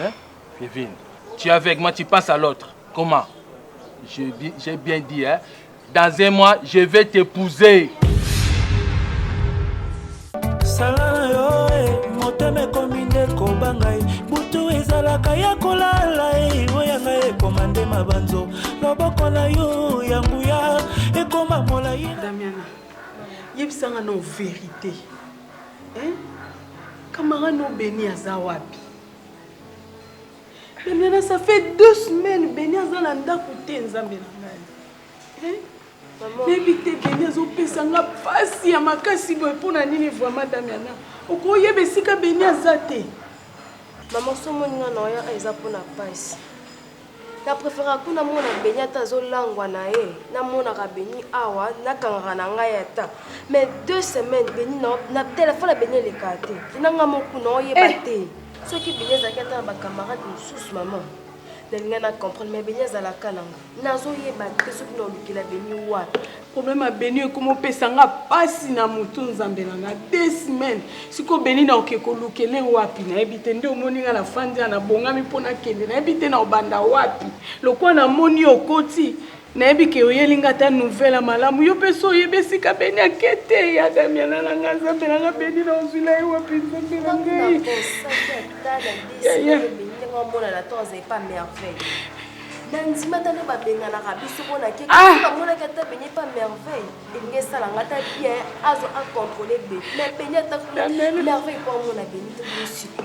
Hein? Kevin, tu es avec moi, tu passes à l'autre. Comment J'ai bien dit, hein Dans un mois, je vais t'épouser. ezalaka ya kolala oyoyanga ekoma nde mabanzo loboko na yo ya nguya ekoma molai damiana yebisanga na verité Hein? Camara no Beni aza wapi? Bemena, ça fait deux semaines Beni aza na ndako te nzambe na ngai. Hein? nayebi te beni azopesa nga mpasi ya makasi boye mpo na nini vraiment damiana okoyeba esika beni aza te mama somonina na oya eza mpo na mpasi Na preferaka ku na mona Beni ata azo langwa na ye na monaka Beni awa na kangaka na ngai ata mais deux semaines Beni na na telephone ya Beni elekaka te na nga mo ku na oyeba eh. te soki Beni azalaki ata na ba camarade mosusu mama na linga na comprendre mais Beni azalaka na nga nazo yeba te soki na olukela Beni wapi Problème ya Beni ekoma opesa nga pasi na mutu nzambe na nga deux semaines siko Beni na oke kolukele wapi nayebi te nde omoni nga na fandi awa na bongami mpo nakende nayebi te na obanda wapi lokola na moni yo okoti nayebi ke oyeli nga ata nouvelle ya malamu yo mpe so oyebi esika Beni ake te ya Damiana na nga nzambe na nga Beni na ozwila ye wapi nzambe na ngai yaya na ndima ata nde babenganaka biso mpo na keke ah! namonaki ata beni epa merveille elingi esala nga ata bien azo acontrole be me beni atamerveille mpo amona beni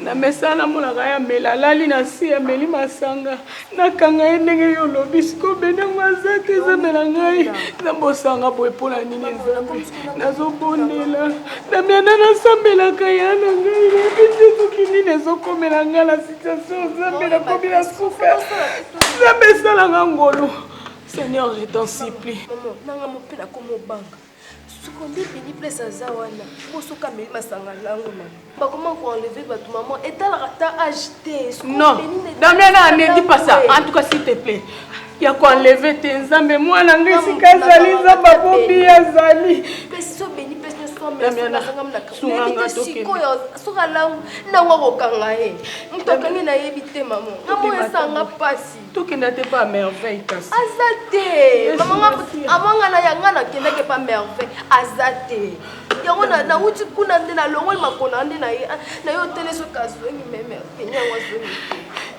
na mesa namonaka ye amela alali na nsi ameli masanga nakanga ye ndenge yo olobi siko beni yango aza te ezamela ngai nabosanga boye mpo na nini ezambe nazobondela na mianda nasambelaka ya na ngai nayebi te soki nini ezokomela ngai na nzambe nakomi na suka nzambe esalanga ngolu seigneur je t'en supplie nanga mope nakomi obanga sokondi bini place aza wana bosoka meli masanga lango na bakoma koenleve bato mama etalaka ta age te non damiana ne dit pas ça en tout cas s'il te plaît ya ko enleve te nzambe mwana nga esika azali nzambe abobi azali soki alangu nango akokanga ye moto akangi na yebi te mamo namo esanga mpasi tokenda te pa merveille kasi aza te amanga na yanga nakendaki pa merveille aza te yango nauti kuna nde nalongoli makona nde na ye ah, na ye otelesi okazwengi meme yango azwengi te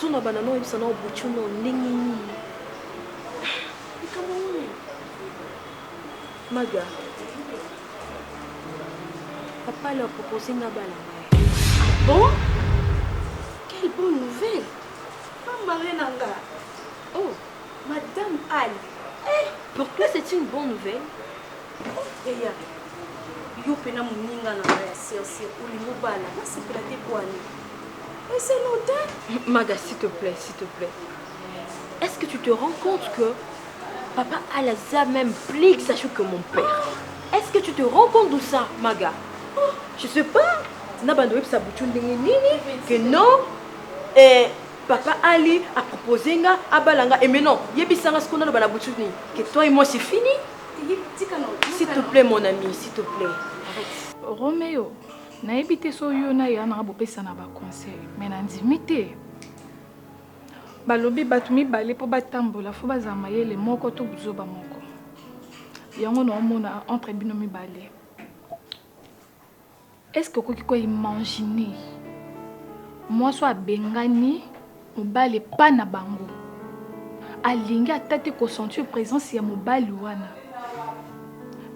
Suna bana no yebisa nao buchu no ndenge nini likambo nini maga papa leur propose nga bala ngai ah bon quelle bonne nouvelle pambare na nga oh madame ali eh pourquoi c'est une bonne nouvelle eya yo mpena moninga na nga ya serse olingi obala nasepela te bwani ese note maga s'il te plaît s'il te plaît est ce que tu te rends compte que papa alaza même plus que sachu que mon père est ce que tu te rends compte de ça maga oh, je sais pas na bando oyebisa butu ndenge nini que non eh, papa ali apropose nga abala nga eme eh, non yebisa nga sikoyo naloba na butu nini que toi et moi c'est fini S'il te plaît mon ami, s'il te plaît. Arrête. Romeo, nayebi te so yo na ya nanga bopesana ba conseil, mais nandimi te. Balobi bato mibale mpo batambola fo bazala mayele moko to buzoba moko. Yango naomona entre bino mibale. Est-ce que okoki ko imaginer mwasi oyo abengani mobali epa na bango alingi ata te ko sentir presence ya mobali wana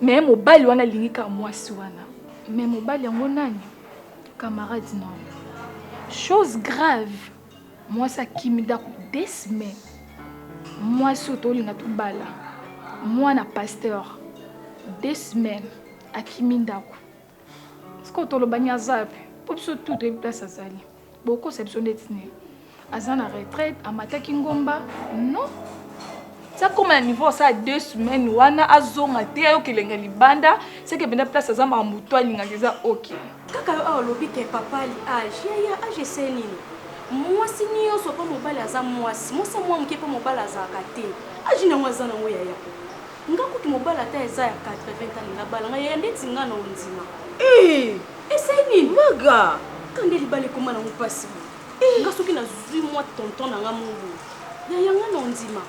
mais mobali wana alingi kaka mwasi wana mais mobali yango nani camarade na yo chose grave mwasi akimi ndako deux semaines mwasi oyo tolinga tobala mwana pasteur deux semaines akimi ndako sikoyo toloba ni aza wapi mpo biso tu toyebi place azali bokosa biso ndeti nini aza na retraite amataki ngomba non sakoma na niveau asala deux semaines wana azonga te ayoka elenga libanda seke mpenza place aza makambo to alingaka eza ok kaka yo awa olobi ke papali age yaya age ese nini mwasi nyonso mpo mobali aza mwasi mwasi ya mwa moke mpo mobali azalaka te age nango aza nango yaya Nga kutu mobali ata eza ya 80 ans alinga abala nga yaya ndeti nga na ondima. Eeh ese nini maga ka nde libala ekoma nango pasi bo eh. nga soki nazui mwa tonton na nga mobo yaya nga na ondima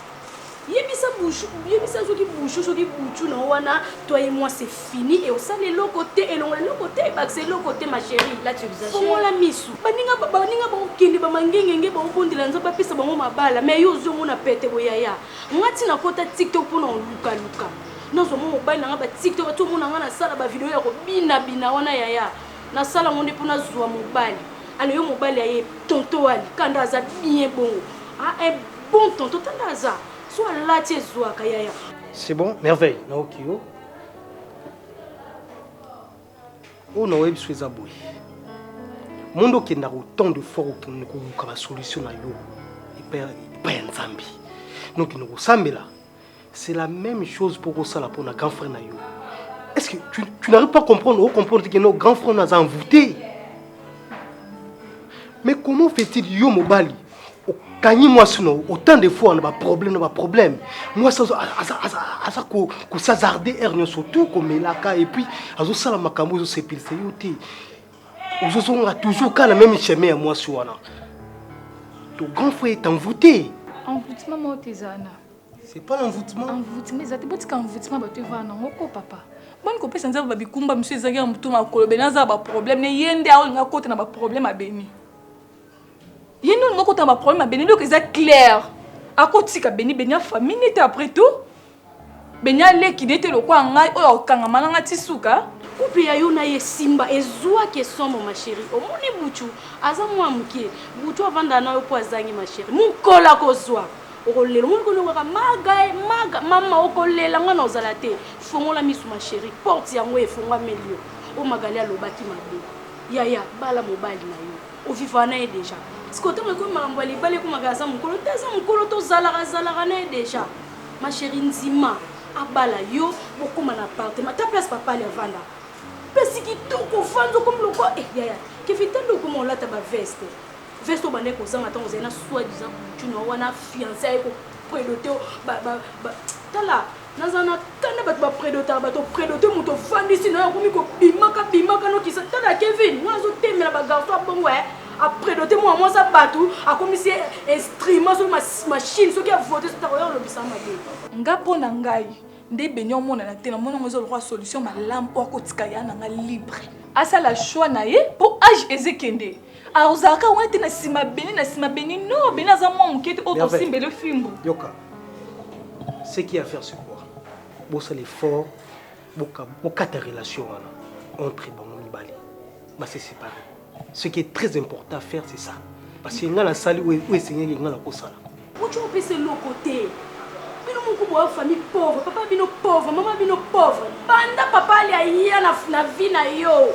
yebisa bushu yebisa soki bushu soki buchu na wana toi et moi c'est fini et osala eloko te elongola eloko te ebakisa eloko te ma chérie là tu exagères fongola misu baninga baninga bakokende bamangengenge bakobondela nzambe apesa bango mabala mais yo ozwi yango na pete boyaya nga ti nakota tiktok mpona kolukaluka nazwa mwa mobali na nga batiktok ati omona nga nasala bavideo ya kobinabina wana yaya nasala ngo nde mpo nazwa mobali alo yo mobali aye tonto ali kanda aza bien bongo ah, un bon tonto tanda aza so alati ezwaka yaya c'est bon merveille naoki yo oyo na oyebi biso eza boye monde okendaka autant de fois kokende koluka basolution na yo epai ya nzambe nokende kosambela c'est la même chose mpo kosala mpo na grand frère na yo est ce que tu, tu n'arrive pas comprendre ocomprendre te keno grand frère na aza envoûté mais comment fait-il yo mobali okangi mwasi na autant de fois na baproblème na baproblème mwasi aza kosazarde aire nyonso tout komelaka et puis azosala makambo ezosepelisa yo te ozozonga toujours ka na meme chemin ya mwasi wana to grand frère est envoûté envoûtement moko te eza wana c'est pas l'envoûtement envoûtement eza te botika envoûtement bato evaa nango ko papa boni kopesa nzambe babikumba mosusu ezalaki ya motu makolo beni aza na baproblème ne ye nde aolinga kota na baproblème abeni Ye nde olingi okota na ba problème ya Beni eloko eza clair akotika Beni, Beni ya famille ne te après tout Beni ya leki ne te lokola ngai oyo akokangama na ngai ti suka. Couple ya yo na ye esimba ezuaki esomo ma cherie omoni butshu aza mua mukie butshu avanda na yo po azangi ma cherie mukolo akozua okolela omoni ko noko kaka magae maga mama okolela nga nakozala te fongola misu ma cherie porte yango efongwameli yo po magali alobaki mabe yaya bala mobali na yo O vivaka na ye dejà. Sikoyo tango ekomi makambo ya libala ekomaka aza mukolo te aza mukolo to zalaka zalaka na ye dejà. Ma cherie ndima abala yo bokoma na appartement ta place papa ali avanda place kitoko ofandi okomi lokola eh yaya kefi ta nde okoma olata ba veste veste obandaki kozanga ntango ozali na soi disant butu na yo wana fiance aye kopredote yo tala Naza na kanda bato ba predotaka bato predote moto ofandisi nayo akomi kobimaka bimaka nokisa tala Kevin mwana azotemela ba garçon abongo eh apredote mwana mwasi ya bato akomisi ye instrument soki machine soki avote soki akoya kolobisa mabe nga mpo na ngai nde beni omonana te na mona ngo eza lokola solution malamu oyo akotika ya na nga libre asala choix na ye mpo age ezekende Ah, ozalaka wana te na nsima beni na nsima beni no beni aza mwa moke te oyo tosimbele fimbu yoka ce qui a faire c'est quoi bosala effort bokata relation wana entre bango mibale base séparé ce qui est très important à faire c'est ça parce que ngai nasali oyo esengeli ngai nakosala Mucho opesa eloko te bino moko boa famille pauvre papa bino pauvre maman bino pauvre banda papa ali aya na, na vie na yo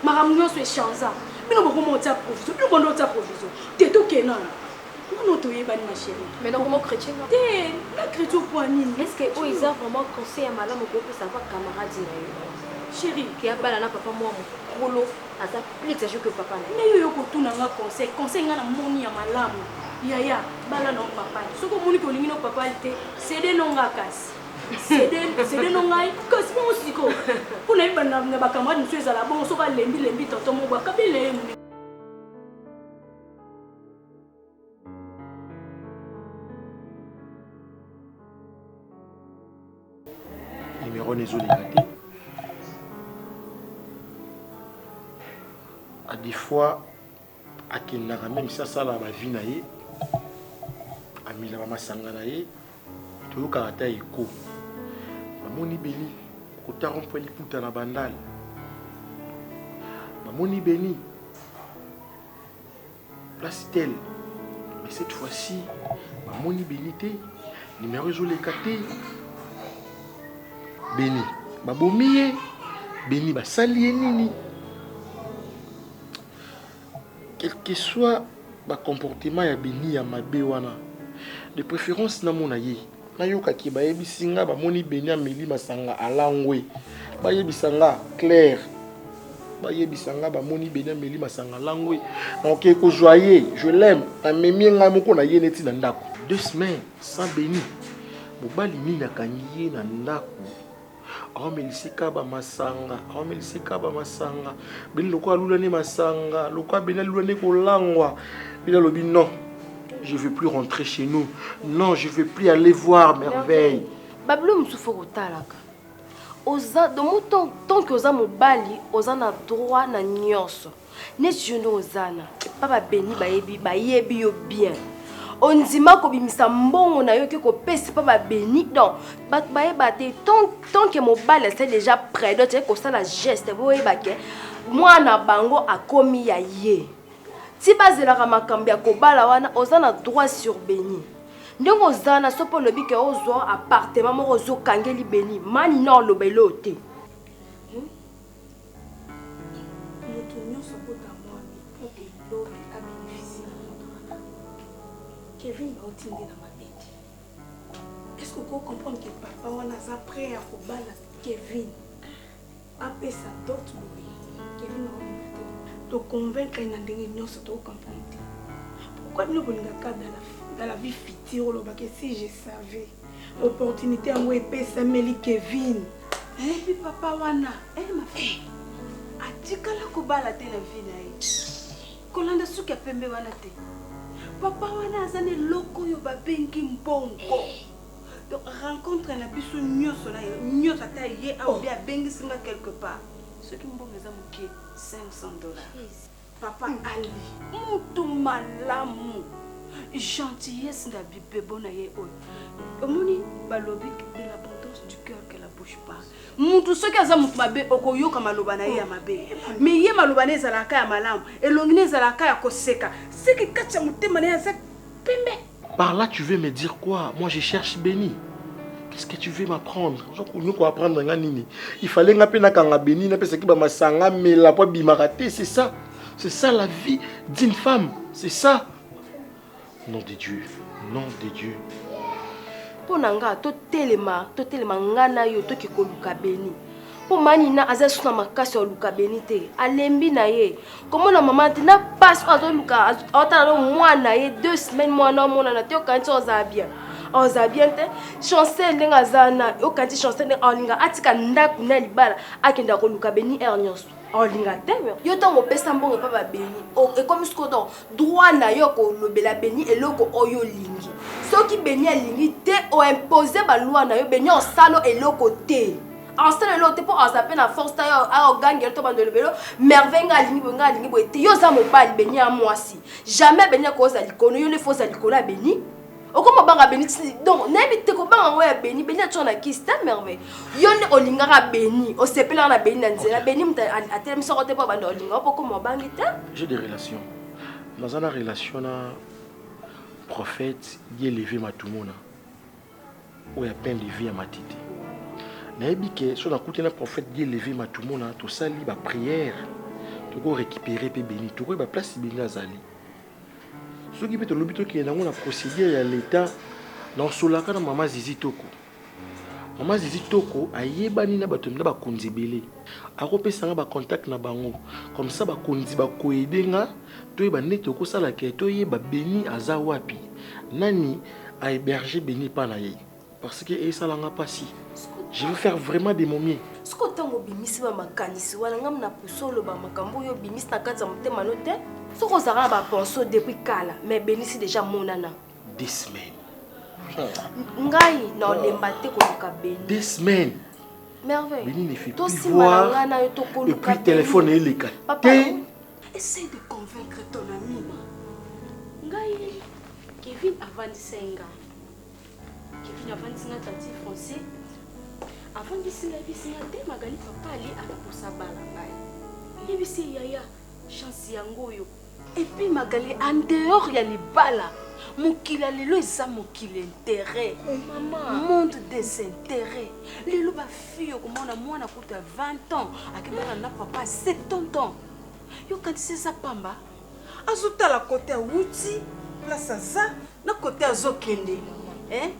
makambo nyonso echanza bino bokoma otia provision bino bonde otia provision te tokenana nano toyebani ma chérie mais donc mo chrétien te na chrétien okoa nini est ce que oyo eza vraiment conseil ya malamu kopesa pa camarade na yo chérie ke abala na papa mwa mokolo aza plus exagere que papa na yo yo kotuna nga conseil conseil nga na moni ya malamu yaya bala na papa soki omoni ke olingi no papa te sede no nga kasi sede no ngai kasi bongo siko mpo na yeba na bacamarade mosusu ezala bongo soki alembi lembi tonton moko akabi na ye Numéro wana ezolinga te a des fois akendaka meme si asala bavi na ye amelaka masanga na ye toyokaka ata eko bamoni beni kotako mpo liputa na bandale bamoni beni place tel mais cette fois ci bamoni beni te nimero ezoleka te beni babomi ye beni basali ye nini quelque soit bacomportement ya beni ya mabe wana de préférence namona ye Na yoka ke bayebisi nga ba moni Beni ameli masanga alangwe ba yebisa nga claire ba yebisa nga ba moni Beni ameli masanga alangwe na oke ko zua ye je l'aime na memi ye nga moko na ye neti na ndaku deux semaines sans Beni mobali nini akangi ye na ndaku aomelisi kaba masanga aomelisi kaba masanga bino lokola alula nde masanga lokola bino alula nde kolangwa bino alobi non je veux plus rentrer chez nous non je veux plus aller voir merveille babilo mosusu fo kotalaka oza domo tanke oza mobali oza na droit na nyonso Neti yo nde oza na epa ba beni bayebi bayebi yo bien ondima kobimisa mbongo na yo ke kopesa epa ba beni donc bato bayeba te tant tant que mobali asali deja predo teke kosala geste boyeba ke mwana bango akomi ya ye ti bazelaka makambo ya kobala wana oza na droit sur beni ndenge oza na soki olobi ke ozwa appartement moko ozokangeli beni mani na oloba eloo te Mutu nionso abota muana il faut que lobi a beneficier na muana wana. Kevin ba oti nde na mabe te. Est ce que oko comprendre que papa wana aza près ya ko bala Kevin? A pesa dot boye. Kevin a olinga te. To convaincre ye na ndenge nionso to comprendre te. Pourquoi bino bolingaka dans la, dans la vie future olobaka si je savais. Opportunité yango epesameli Kevin. Ebi eh, papa wana eh, ma fille eh. atikala kobala te na vie na ye kolanda suki ya pembe wana te papa wana aza na eloko oyo babengi mbongo donc rencontre na biso nyonso na ye nyonso ata ye aobi oh. abengisi nga quelque part soki mbongo eza moke 500 dollars Papa Ali mutu malamu gentillesse na bibebo na ye oyo omoni balobi de l'abondance du cœur que la bouche parle mutu soki aza mutu mabe okoyoka maloba na ye ya mabe me ye maloba na ye ezalaka ya malamu elongi na ezalaka ya koseka seki kati ya motema na ye aza pembe Par là tu veux me dire quoi Moi je cherche Beni. Qu'est-ce que tu veux m'apprendre Ozokunya ko apprendre nga nini Il fallait nga pe na kanga Beni na pesa ki ba masanga mela po bimaka te, c'est ça. C'est ça la vie d'une femme, c'est ça. Nom de Dieu, nom de Dieu. Mpo na nga totelema, totelema nga na yo toki koluka Beni. mpo manina aza lisusu na makasi ya koluka beni te alembi na ye komona mama te na mpasi oyo azoluka aotala no mwana na ye deux semaine mwana omonana te okanisi ozala bien ozala bien te chancel ndenge aza na okanisi chancel ndenge aolinga atika ndako na libala akenda koluka beni heure nyonso olinga te yo ntango opesa mbongo epa babeni ekomi siko don droit na yo kolobela beni eloko oyo olingi soki beni alingi te oimpose balwa na yo beni osalo eloko te Austin lelo te mpo aza mpe na force ta yo aogangela to bando elobelo merveille nga alingi boye nga alingi boye te yo oza mobali beni ya mwasi jamais beni akoza likono yo nde fo oza likolo ya beni okoma banga beni donc nayebi te kobanga yango ya beni beni atyo na kisi te merveille yo nde olingaka beni osepelaka na beni na nzela beni moto atelemisi yango te mpo abanda olinga mpo okoma obangi te j'ai des relations naza na relation na prophète dieleve matumona Oyo ya pain levi ya matiti. Nayebi ke so nakuti na prophète Dieu levi matumona tosali ba prière toko récupérer pe beni tokoyeba place beni azali. Soki pe tolobi tokende nango na procédure ya l'etat na osolaka na mama zizi toko mama zizi toko ayebani na bato na bakonzi ebele akopesa nga ba contact na bango comme ça bakonzi bakoede nga Toyeba nde toko sala que to yeba Beni aza wapi? Nani a heberger Beni epa na ye? Parce que e sala nga pasi. Je veux faire vraiment de mon mieux. Sikoyo tango obimisi ba makanisi wana nga na pusu oloba makambu oyo obimisi na kati ya motema no te? Soki ozalaka na ba pensee oyo depuis kala mais Beni si dejà amonana. Des semaines. Ngai na olemba te koluka Beni. Des semaines. Merveille. Beni ne fait plus voir et puis telephone eleka te. Essaye de convaincre ton ami. Ngai, Kevin avandisa ye nga. Kevin avandisi nga tati français. Avandisi nga yebisi nga te Magali papa ali akokosa bala ngai. Yebisi ye yaya chance yango oyo. Epuis Magali en dehors ya libala mokili ya lelo eza mokili intérêt monde des intérêts lelo ba fille okomona mwana kutu ya 20 ans akebana na papa 70 ans yokanisi eza pamba azotala kote awuti place aza na kote azokende eh?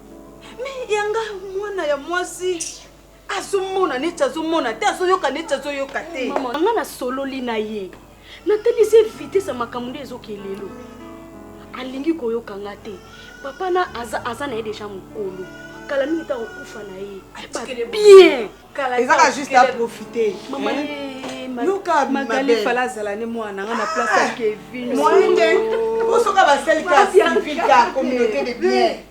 me yanga mwana ya mwasi azomona neti azomona te azoyoka neti azoyoka te nga nasololi na ye natalisi ye vitese ya makambo nde ezokee lelo alingi koyoka nga te papa na aza, aza na ye deja mokolo kala mingi ta kokufa na ye bien ezaka juste aprofite mama magali fala azala ne mwana nga na place ya kevin moyen te osoka basali ka civil ka communauté de bien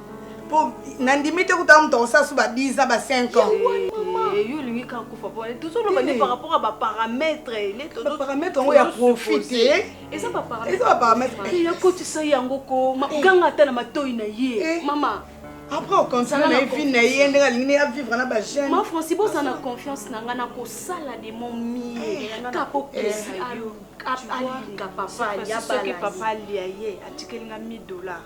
po nandimi te kuta moto akosala so ba 10 ans ba 5 ans yo olingi kaka kufa po tozoloba nde par rapport ya baparametre baparametre yango ya profit te eza baparametre yakotisa yango ko ganga ata na matoi na ye mama après ocontinue na ye vie na ye ndenge alingi nde avivre na bajeune ma franci boza na confiance na ngai nakosala de mon mie kapokesi alinga papa soki papa alia ye atikeli nga 1000 dollars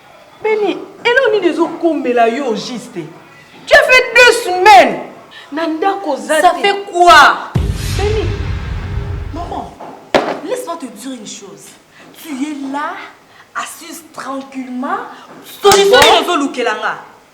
Beni, eloko nini ezo komela yo au juste? Tu as fait deux semaines na ndako oza te. Ça fait quoi? Beni, maman, laisse-moi te dire une chose. Tu es là, assise tranquillement, solution nini ozo lukela nga?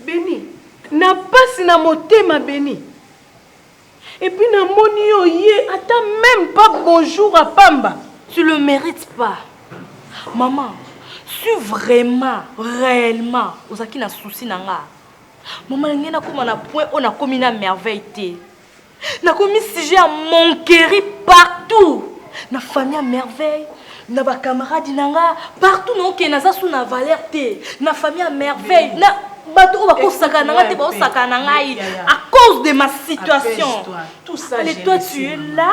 Beni na pasi na motema beni et puis na moni yo ye ata meme pas bonjour à pamba tu le mérite pas maman si vraiment réellement ozalaki na souci na nga maman ngai nakoma na point oyo nakomi na merveille te nakomi sujet ya monqueri partout na famille ya merveille na bacamarade na nga partout naokee naza su na valeur te na famille ya merveille na bato oyo bakosaka na nga te baosaka na ngai à cause de ma situation et toi tu es là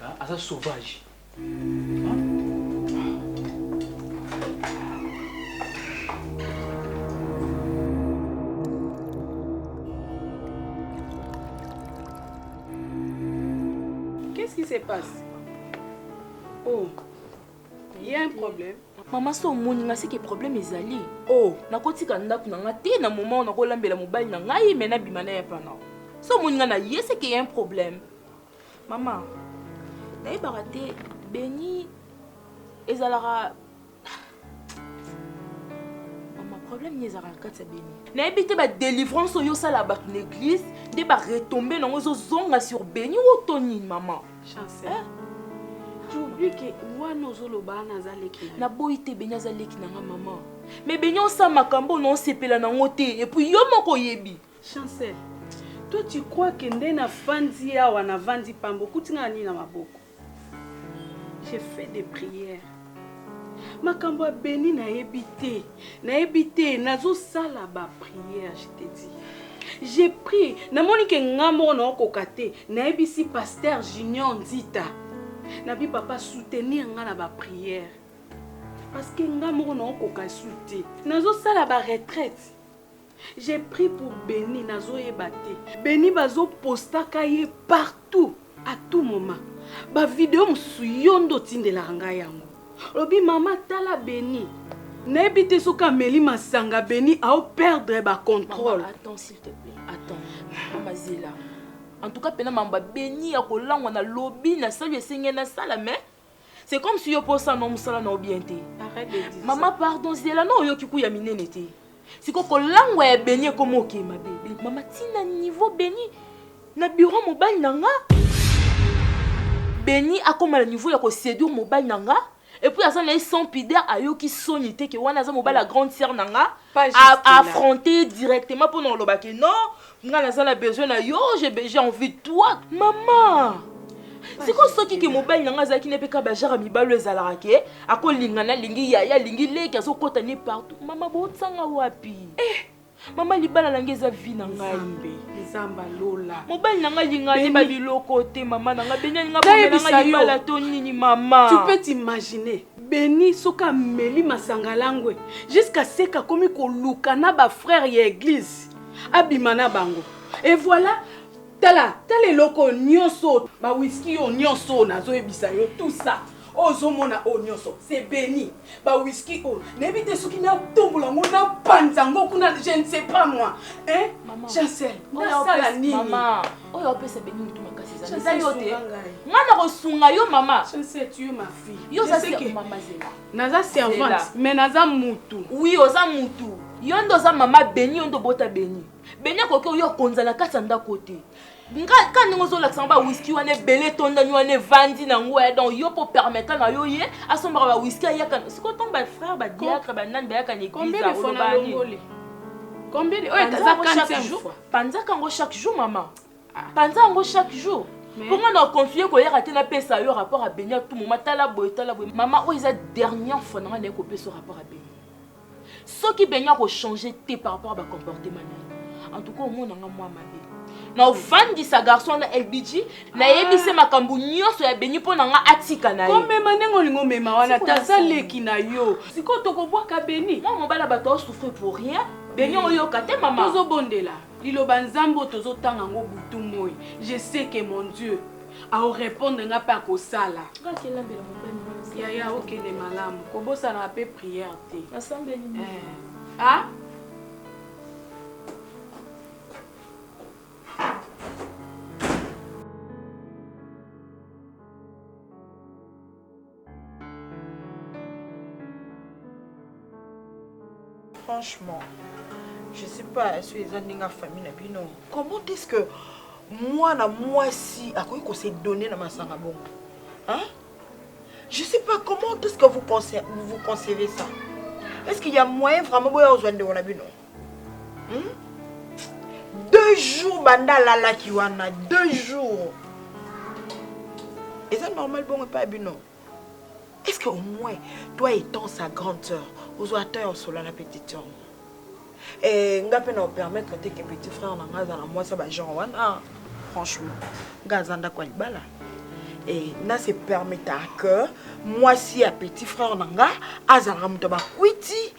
Hein? Aza sauvage. Qu'est-ce qui se passe Oh, il y a un problème. mama so omoni nga seke problème ezali oh. nakotika ndako na nga te na moment oyo nakolambela mobali na ngai me nabima na ye pana so omoni nga na ye seke ya un problème Maman, nayebaka te beni ezalaka mama problème nini ezalaka na kati ya beni nayebi te badelivrance oyo osala bato na église nde baretombe nango ezozonga sur beni o to nini mama chancel eh? tobie ke wana ozoloba wana aza leki naboyi te beni aza leki na nga mama me beni osala makambo oyo naosepela nango te epuis yo moko oyebi Chancel, toi tu crois que nde na fandi awa na vandi pamba okuti nga na nini na maboko? J'ai fait des prières. Makambo ya Beni nayebi te, nayebi te, nazosala ba prières, je te dis. J'ai pris, namoni ke nga moko naokoka te, nayebisi pasteur Junior Nzita. Nabi papa soutenir nga na ba prières. Parce que nga moko naokoka su te. Nazosala ba retraites. Je prie pour Beni nazo yeba te. Beni bazo postaka ye partout à tout moment. Ba video mosusu yo nde otindelaka ngai yango. Olobi mama tala Beni. Nayebi te soki ameli masanga Beni ao perdre ba contrôle. Mama, attends s'il te plaît. Attends. Mama zela. En tout cas pena mamba Beni ya kolangwa na lobi na sali esengeli na sala mais C'est comme si yo posa no musala na bien te. Maman pardon zela no oyoki kuya minene te. Siko kolangwa ya beni ekoma oke mabe. Maman tina niveau beni na bureau mobali na nga. Beni akoma na niveau ya ko séduire mobali na nga. Et puis aza na ye sans pudeur ayoki soni te ke wana aza mobali ya grande sœur na nga. Pas juste a- là. affronter directement mpo na koloba ke non nga naza na besoin na yo j'ai be- j'ai envie de toi mama sikoyo soki ke mobali na nga azalaki ne mpe kaka bajara mibali oyo ezalaka ke akolingana alingi yaya alingi leki azokota ne partout mama botanga wapi eh, mama libala na nga eza vi na ngai Nzambe, Nzamba lola. mobali na nga alinga Beni- ayeba biloko te mama na nga beni alinga Nayebisa bomela nga yo. libala to nini mama Tu peux t'imaginer. Benny soki ameli masanga langue jusqu'à sec akomi koluka na ba frères ya eglise abima na bango et voilà tala tala eloko oyo nionso oyo ba whisky oyo nionso oyo nazoyebisa yo tout ça oyo ozomona oyo nionso c'est Benny ba whisky oyo nayebi te soki natombola yango napanza yango kuna je ne sais pas moi hein Chancel nasala nini oyo apesa beni mutu makasi eza yo te nga nakosunga yo mama yo oza mama zela naza servante mais naza mutu oui oza mutu yo nde oza mama beni yo nde obota beni beni akoki oyo akonza na kati ya ndako te nga ka ndenge ozolakisa ngo bawiski wana ebele etondani wana evandi na ngo eh, donc yo mpo permettre na yo ye asombaka bawiski ayaka siko ntango bafrère badiatre banani bayaka na église oyo eza 45 fois panzaka yango chaque jour mama ah. panza yango chaque jour mpo nga na continue koyaka te napesa yo rapport ya beni tout moment tala boye tala boye mama oyo eza dernière fois na nga naye kopesa rapport ya beni soki beni akochange te par rapport ya bacomportement na ye en tout cas omona nga mwa mabe na ofandisa garçon wana lbg nayebi se makambo nyonso ya beni mpo na nga atika na ye komema ndenge olingi omema wana taza leki na yo sikoyo tokobwaka beni mwa mobala bato aosouffrir pour rien beni oyoka te mama tozobondela liloba nzambe oyo tozotanga yango butu moi je sais que mon dieu aorepondre nga mpe akosala yaya okende malamu kobosanaka mpe priere te eh. ah? franchement je sais pas est-ce que eza ndenge ya famille na bino comment est-ce que mwana mwasi akoki kose donne na masanga bongo hein? je sais pas comment est-ce que vous, vous, vous concevez ça est-ce qu'il y a moyen vraiment boya ozwa ndeko na bino hmm? deux jours banda alalaki wana deux jours eza normal bongo epai bino est ce que au moins toi étant sa grande sœur ozwa temps ya osola na petite sœur e nga mpe na opermettre te ke petit frère na nga aza na mwasi ya bagenre wana franchement nga aza ndako ya libala e na se permettre que mwasi ya petit frère na nga azalaka moto ya bakwiti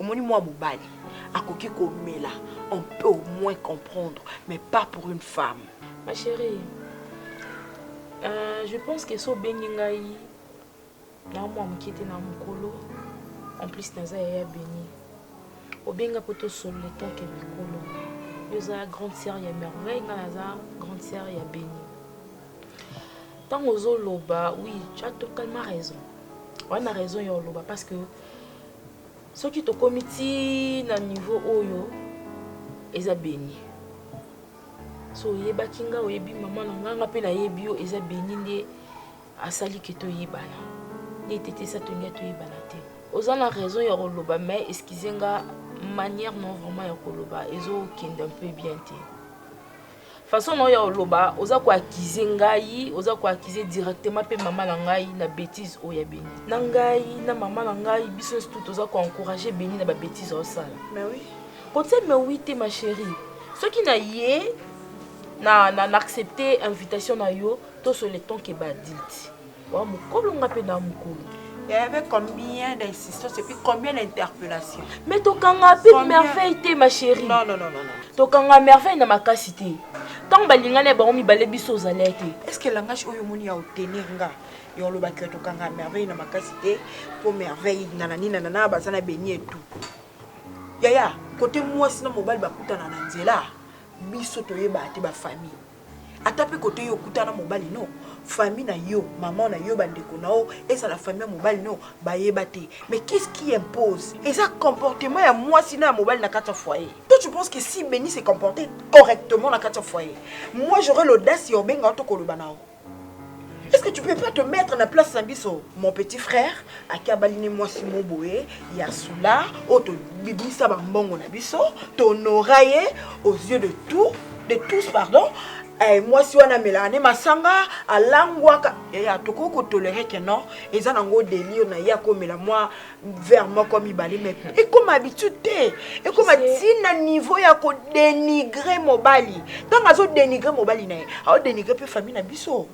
omoni mwa mobali akoki komela on peut au moins comprendre mais pas pour une femme ma chérie euh, je pense que so obengi ngai na mwa moke te na mokolo en plus naza yaya beni obenga mpo tosolola etanke mikolo yo oza grande sœur ya merveille ngai naza grande sœur ya beni ntango ozoloba oui tu as totalement raison wana raison ya oloba parce que Soki tokomi ti na niveau oyo eza beni. So oyebaki nga oyebi mama na nga nga pe nayebi yo eza beni nde asali ke toyebana. Nde tete sa tolinga toyebana te. Oza na raison ya koloba mais excusez nga manière non vraiment ya koloba ezo kende un peu bien te. Façon na yo ya koloba oza ko accuser ngai, oza ko accuser directement pe mama na ngai na betise oyo ya Beni. Na ngai na mama na ngai biso nionso tout toza ko encourager Beni na ba betise azo sala. Mais oui. Ko tia mais oui te ma cherie. Soki na ye na na accepter invitation na yo to se le temps que ba adultes. Wa mukolo nga pe na mukolo. Il y avait combien d'insistance et puis combien d'interpellation Mais tokanga pe combien... merveille te ma chérie. Non non non non. non. Tokanga merveille na makasi te. Tant balingana bango mibale biso ozalaki te. Est-ce que langage oyo moni ya otenir nga yo olobaki yo tokanga merveille na makasi te mpo merveille nanani nanana baza na beni etu yaya kote mwasi na mobali bakutana na nzela biso toyebaka te bafamille ata pe kote yo okuta na mobali no famille na yo maman na yo ba ndeko na yo ezala famille ya mobali no bayeba te mais qu'est-ce qui impose eza comportement ya mwasi na ya mobali na kati ya foyer toi tu penses que si Benny se comporter correctement na kati ya foyer moi j'aurais l'audace ya obenga yo to koloba na yo Est-ce que tu peux pas te mettre na place na biso mon petit frère ake abali ne mwasi mo boye ya sula oyo tobimisa bambongo na biso tonora ye aux yeux de tout de tous pardon eh, mwasi wana amelaka ne masanga alangwaka yaya tokoki kotolere ke non eza nango delire na ye akomela mwa vers moko mibale mais ekoma habitude te ekoma ti na niveau ya kodenigre mobali ntango azodenigre mobali na ye aodenigre mpe famille na biso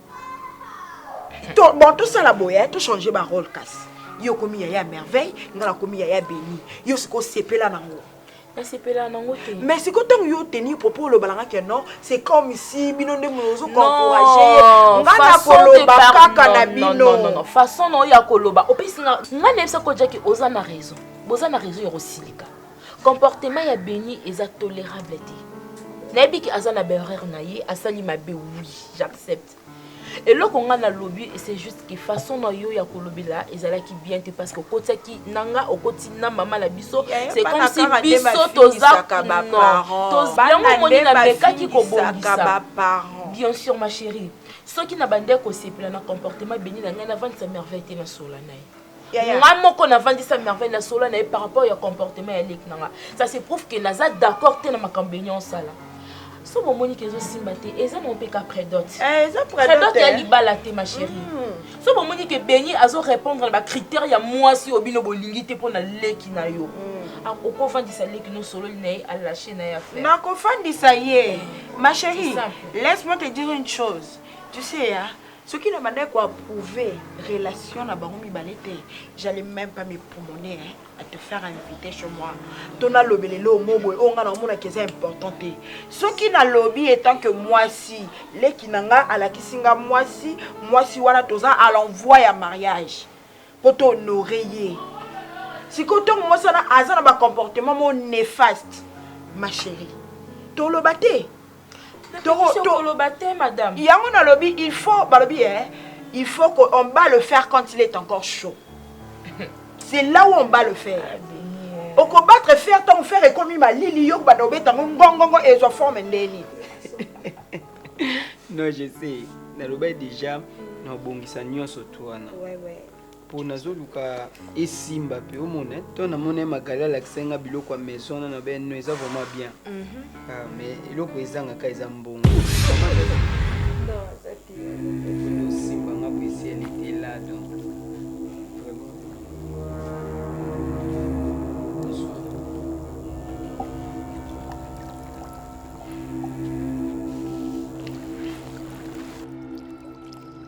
to, bon tosala boye tochange barole kasi yo okomi yaya merveille ngai nakomi yaya beni yo sikoyo sepela nango nasepelaka nango te mais sikoyo ntango yo oteni propos olobala nga ke non c'est comme si bino nde mono ozokoencourage ye nga nakoloba kaka na bino façon na oyo ya koloba opesi nga nga nayebisa ko jaki oza na raison boza na raison ya kosilika comportement ya beni eza tolerable te nayebi ke aza na berreur na ye asali mabe oui j'accepte eloko nga na lobi c'est juste que façon na yo ya kolobela ezalaki bien te parce que okotiaki na nga okoti na mama na biso c'est comme si biso toza yango omoni na mekaki kobongisa bien sûr ma chérie soki na bandeko osepela na comportement beni na ngai navandisa merveille te na sola na ye nga moko na vandisa merveille na solo na ye par rapport ya comportement ya leki na nga ça se prouve que naza d'accord te na makambo benye osala so bomoni ke ezosimba te eza na mpe ka predote eh, predote ya libala te ma chérie mm. so bomoni ke beni azo répondre na bacritère ya mwasi oyo bino bolingi te mpo na leki na yo mm. ah, okofandisa leki no sololi na ye alache na ye affaire nakofandisa ye ma chérie laisse moi te dire une chose tu sais hein? soki na bandaki ko approuver relation na bango mibale te j'allais même pas me promener hein, à te faire inviter chez moi to nalobela eloo mo boye oyo ngai naomonaki eza important te soki nalobi etant que mwasi leki na ngai alakisi ngai mwasi mwasi wana toza à l'envoi ya mariage mpo to honore ye sikoyo ntongo mwasi wana aza na bacomportement mo néfaste ma chérie toloba te yango nalobi il faut balobi ye eh, il faut que on bat le fer quand il est encore chaud c'est là où on bat le fer ah, okobattre fer ntango fer ekomi malili yo kobanda obeta ngo ngongongo ezwa forme ndeni non je sais nalobai déjà naobongisa nyonso to wana po nazoluka esimba pe omona eh. to namona ye magali alakisa nga biloko ya maison wana na beno eza vraiment bien mhm. ah, mais eloko ezangaka eza mbongo osimba nga po esi elle était là donc